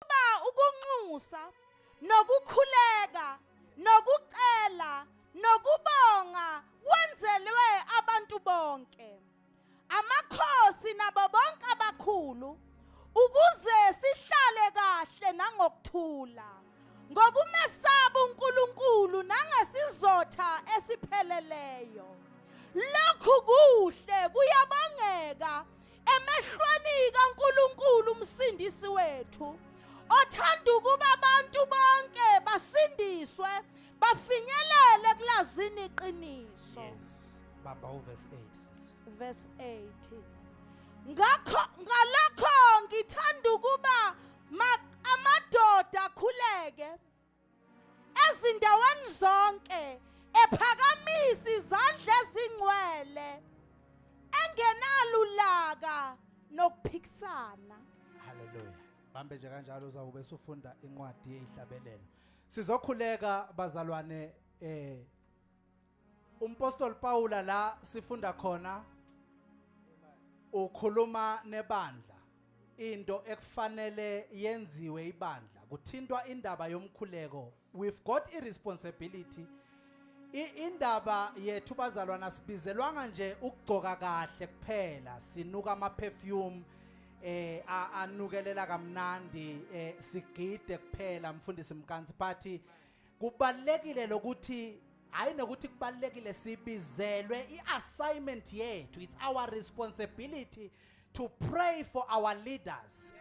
Ba ukunxusa nokukhuleka nokucela nokubonga kwenzelwe abantu bonke amakhosi nabo bonke abakhulu ukuze sihlale kahle nangokuthula ngokumesaba uNkulunkulu nangesizotha esipheleleyo lokhu kuhle kuyabangeka emehlweni kaNkuluNkulu umsindisi wethu othanda ukuba abantu bonke basindiswe bafinyelele kulazini iqiniso yes bamba uverse 8 verse 8 ngakho ngalokho ngithanda ukuba amadoda akhuleke ezindaweni zonke ephakamisa izandla ezingcwele engenalulaka nokuphikisana haleluya bambe nje kanjalo uzawube sufunda incwadi yeyihlabelelo sizokhuleka bazalwane eh Umpostoli Pawula la sifunda khona ukhuluma nebandla into ekufanele yenziwe ibandla kuthintwa indaba yomkhuleko we've got i responsibility indaba yethu bazalwana sibizelwanga nje ukugcoka kahle kuphela sinuka ama perfume eh anukelela kamnandi eh sigide kuphela mfundisi mkansi party kubalekile lokuthi hayi nokuthi kubalekile sibizelwe iassignment yethu it's our responsibility to pray for our leaders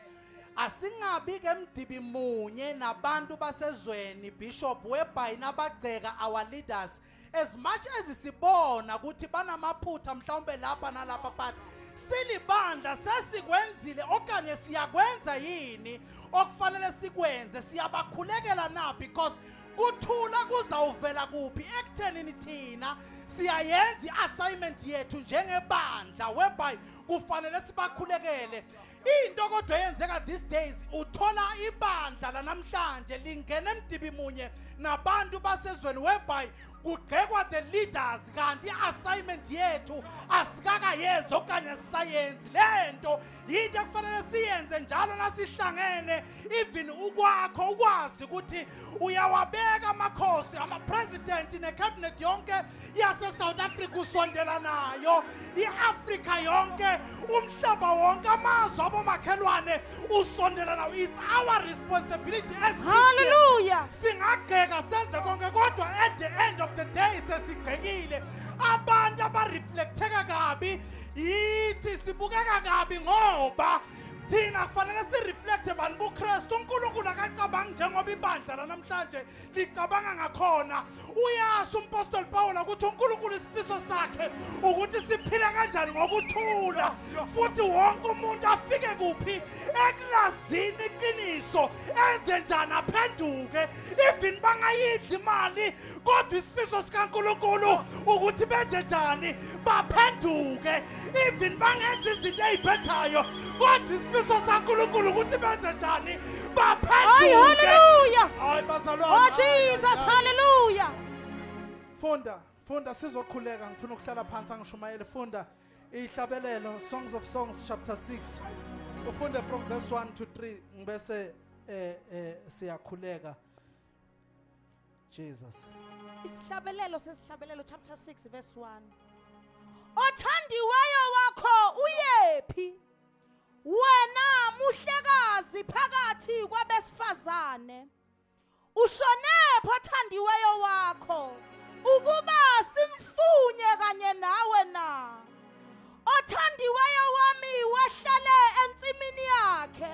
asingabi ke mdibi munye nabantu basezweni bishop webhayi nabagceka our leaders as much as sibona ukuthi banamaphutha mhlawumbe lapha nalapha but silibandla sesikwenzile okanye siyakwenza yini okufanele sikwenze siyabakhulekela na because kuthula kuzawuvela kuphi ekuthenini thina siyayenza i-assignment yethu njengebandla whereby kufanele sibakhulekele Into kodwa eyenzeka these days uthola ibandla lanamhlanje lingena emdibi munye nabantu basezweni whereby kugxekwa the leaders kanti i-assignment yethu asikakayenzi okanye sisayenzi le nto yinto ekufanele siyenze njalo nasihlangene even ukwakho ukwazi ukuthi uyawabeka amakhosi ama-president ne-cabinet yonke yase-south africa usondela nayo i-afrika yonke umhlaba wonke amazwe abomakhelwane usondela nawo it's our responsibility as Hallelujah. singagxeka senze konke kodwa at the end of the day sesigxekile abantu abareflectheka kabi yithi sibukeka kabi ngoba thina kufanele sireflekthe bani bukristu unkulunkulu akacabangi njengoba ibandla lanamhlanje licabanga ngakhona uyasho umpostoli pawula ukuthi unkulunkulu isifiso sakhe ukuthi siphile kanjani ngokuthula futhi wonke umuntu afike kuphi ekulazini iqiniso enze njani aphenduke even bangayidli imali kodwa isifiso sikaNkulunkulu ukuthi benze njani baphenduke even bangenza izinto eziphethayo kodwa isifiso sikaNkulunkulu ukuthi benze njani baphenduke Ay hallelujah Ay bazalwane Oh Jesus hallelujah Funda funda sizokhuleka ngifuna ukuhlala phansi angishumayele funda ihlabelelo Songs of Songs chapter 6 ufunde from verse 1 to 3 ngibese eh eh siyakhuleka Jesus. Isihlabelelo sesihlabelelo chapter 6 verse 1. Othandiweyo wakho uyephi? Wena muhlekazi phakathi kwabesifazane. Ushonephi othandiweyo wakho? Ukuba simfunye kanye nawe na? othandiweyo wami wahlale ensimini yakhe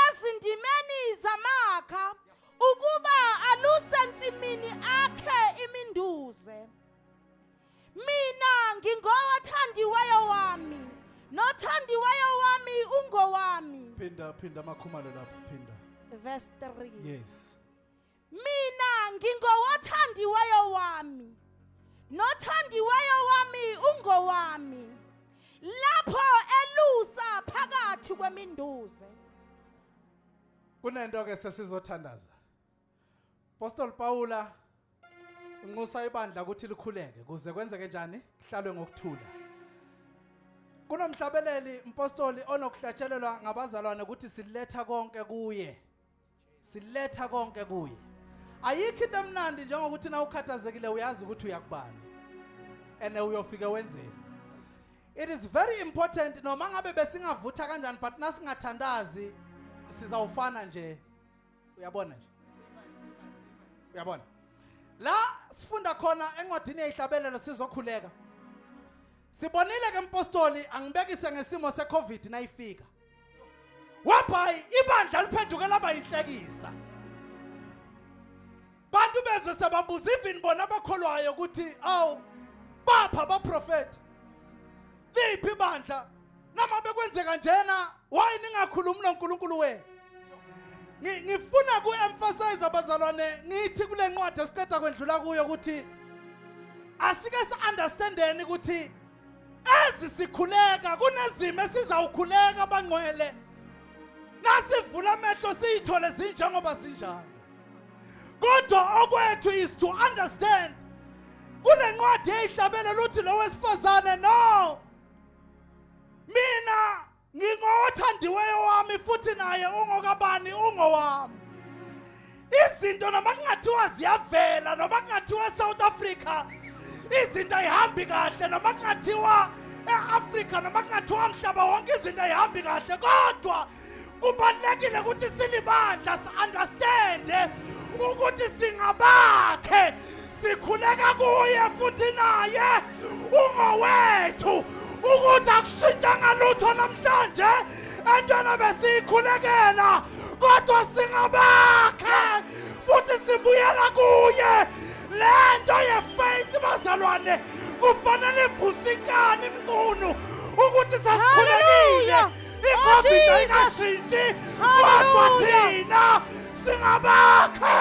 ezindimeni zamakha ukuba aluse nsimini akhe iminduze mina ngingowathandiweyo wami nothandiweyo wami ungowami phinda phinda amakhumalo lapho phinda verse 3 yes mina ngingowothandiweyo wami nothandiweyo wami ungowami lapho elusa phakathi kweminduze kunento ke sesizothandaza Apostle Paula unxusa ibandla ukuthi likhuleke kuze kwenzeke njani kuhlalwe ngokuthula kunomhlabeleli mpostoli onokuhlatshelelwa ngabazalwane ukuthi siletha konke kuye siletha konke kuye ayikho into emnandi njengokuthi na ukhathazekile uyazi ukuthi uyakubani and uyofike wenzeni it is very important noma ngabe besingavutha kanjani but nasingathandazi sizawufana nje uyabona nje uyabona la sifunda khona encwadini yeyihlabelelo sizokhuleka sibonile ke mpostoli angibekise ngesimo secovid nayifika wabhayi ibandla liphenduke laba yinhlekisa bantu bezwe sebabuza even bona abakholwayo ukuthi awu bapha abaprofethi liphi ibandla noma bekwenzeka njena why ningakhulumi noNkulunkulu wenu ngifuna ku-emphasize abazalwane ngithi kule ncwadi esiqeda kwendlula kuyo ukuthi asike si-understandeni ukuthi Ezi sikhuleka kunezimo esizawukhuleka abangcwele nasivula amehlo siyithole zinjengoba zinjalo kodwa okwethu is to understand kule ncwadi eyihlabele luthi lo wesifazane no mina ngingothandiweyo wami futhi naye ungokabani ungowami izinto noma kungathiwa ziyavela noma kungathiwa south africa izinto ayihambi kahle noma kungathiwa e-afrika noma kungathiwa mhlaba wonke izinto ayihambi kahle kodwa kubalulekile ukuthi silibandla si-understande ukuthi singabakhe sikhuleka kuye futhi naye ungowethu ukuthi akushintshanga lutho namhlanje entwana besiyikhulekela kodwa singabakhe futhi sibuyela kuye le nto yefaith bazalwane kufanele ivusikane imqunu ukuthi sasikhulekile icovid ayingashintshe kodwa thina singabakhe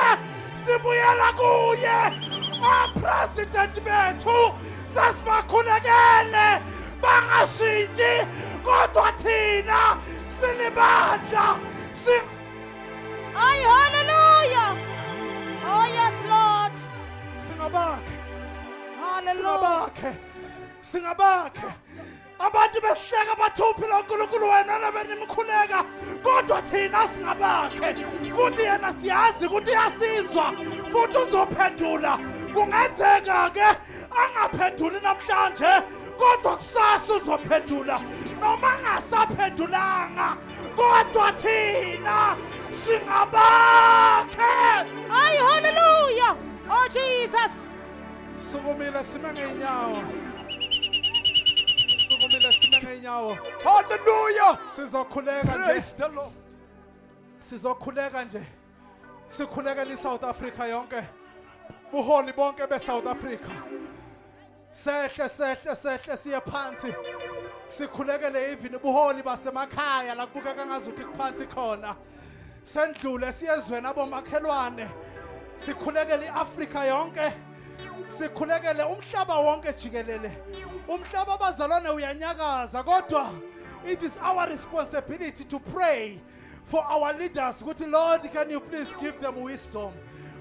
sibuyela kuye apresident bethu sasibakhulekele bangashintshi kodwa thina sinibandla si Ay, hallelujah. Oh, yes, Lord. singabakhe Hallelujah. singabakhe singabakhe abantu besihleka bathuphi lonkulunkulu wena nabenimkhuleka kodwa thina singabakhe futhi yena siyazi ukuthi uyasizwa futhi uzophendula kungenzeka-ke angaphenduli namhlanje kodwa kusasa uzophendula noma angasaphendulanga kodwa thina singabakhe hayi haleluya o oh, jesus Sukumile sime ngeenyawo. Sukumile sime ngeenyawo. Hallelujah. Sizokhuleka nje. Praise the Lord. Sizokhuleka nje. Sikhulekela iSouth Africa yonke. Buholi bonke beSouth Africa. Sehle sehle sehle siye phansi. Sikhulekele even ubuholi basemakhaya la kubukeka ngazuthi kuphansi khona. sendlule siyezweni abomakhelwane sikhulekele iAfrika yonke sikhulekele umhlaba wonke jikelele umhlaba abazalwane uyanyakaza kodwa it is our responsibility to pray for our leaders ukuthi lord can you please give them wisdom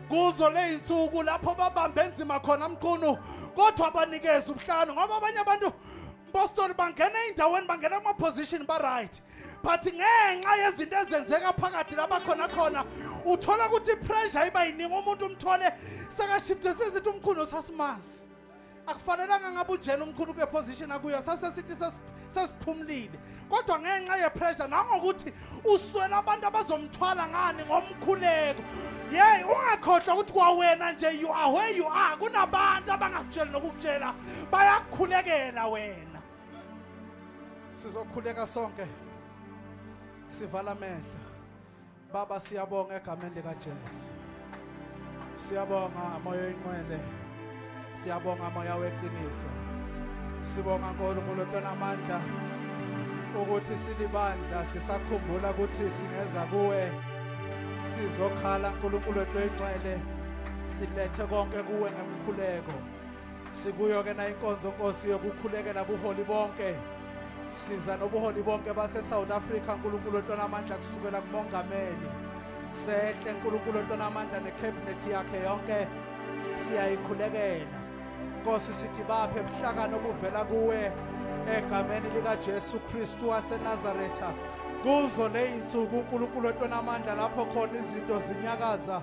kuzo le insuku lapho babambe enzima khona mqunu kodwa abanikeze ubuhlanu ngoba abanye abantu bostoli bangena ey'ndaweni bangena kuma-position ba-right but ngenxa yezinto ezenzeka phakathi laba khona khona uthola ukuthi ipressure iba yiningi umuntu umthole sekashifte sezithi umkhulu sasimazi akufanelanga ngabe unjena umkhulu kule position akuyo sasesithi sesiphumulile kodwa ngenxa yepressure nangokuthi uswela abantu abazomthwala ngani ngomkhuleko yeyi ungakhohlwa ukuthi kwawena nje you are where you are kunabantu abangakutsheli nokukutshela bayakukhulekela wena sizokhuleka sonke sivala amehlo baba siyabonga egameni likaJesu siyabonga moya oyinqwele siyabonga moya weqiniso sibonga nkulunkulu onamandla ukuthi silibandla sisakhumbula ukuthi singeza kuwe sizokhala nkulunkulu wethu oyinqwele silethe konke kuwe ngemkhuleko Sikuyo ke na inkonzo Nkosi yokukhulekela buholi bonke. Siza nobuholi bonke base South Africa uNkulunkulu ontona amandla kusukela kumongameli. Sehle uNkulunkulu ontona amandla ne cabinet yakhe yonke siyayikhulekela. Nkosi sithi baphe buhlakano obuvela kuwe egameni lika Jesu Kristu wase Nazareth. Kuzo leyinsuku uNkulunkulu ontona amandla lapho khona izinto zinyakaza.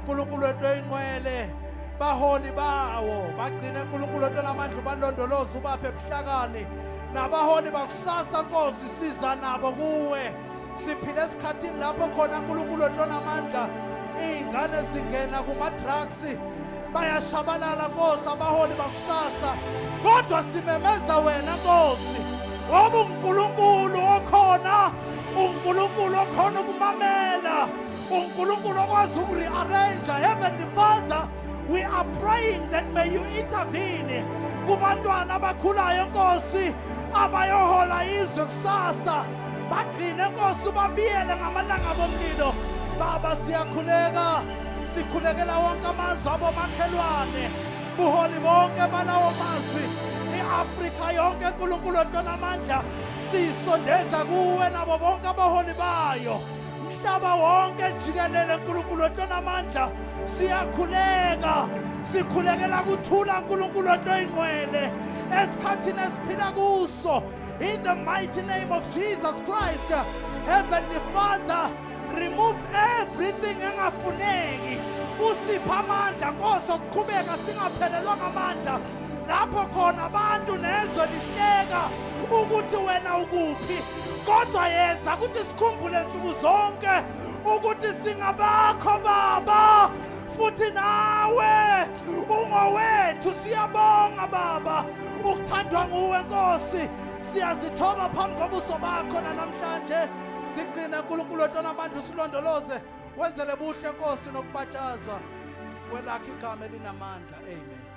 uNkulunkulu wento ingqwele baholi bawo bagcine uNkulunkulu wento lamandla ubalondoloze ubaphe ebuhlakani nabaholi bakusasa Nkosi siza nabo kuwe siphile esikhathini lapho khona uNkulunkulu wento namandla izingane zingena kuma drugs bayashabalala Nkosi abaholi bakusasa kodwa simemeza wena Nkosi ngoba uNkulunkulu okhona uNkulunkulu okhona ukumamela unkulunkulu okwazi uku-rearrange heavenly father we are praying that may you intervene kubantwana abakhulayo nkosi abayohola izwe kusasa bagcine nkosi ubabiyele ngamalanga bomlilo baba siyakhuleka sikhulekela wonke amazwi abomakhelwane buholi bonke balawo mazwi i-afrika yonke nkulunkulu entonamandla siyisondeza kuwe nabo bonke abaholi bayo mhlaba wonke jikelele nkulunkulu onamandla siyakhuleka sikhulekela kuthula nkulunkulu ontoyingqwele esikhathini esiphila kuso in the mighty name of jesus christ heavenly father remove everything engafuneki usipha amandla nkosi okuqhubeka singaphelelwa ngamandla lapho khona abantu nezwe lihleka ukuthi wena ukuphi kodwa yenza ukuthi sikhumbule nsuku zonke ukuthi singabakho baba futhi nawe ungowethu siyabonga baba ukuthandwa nguwe nkosi siyazithoba phambi kobuso bakho nanamhlanje sigcine nkulunkulu wetona abantu silondoloze wenzele buhle nkosi nokubatshazwa kwelakho igama elinamandla amen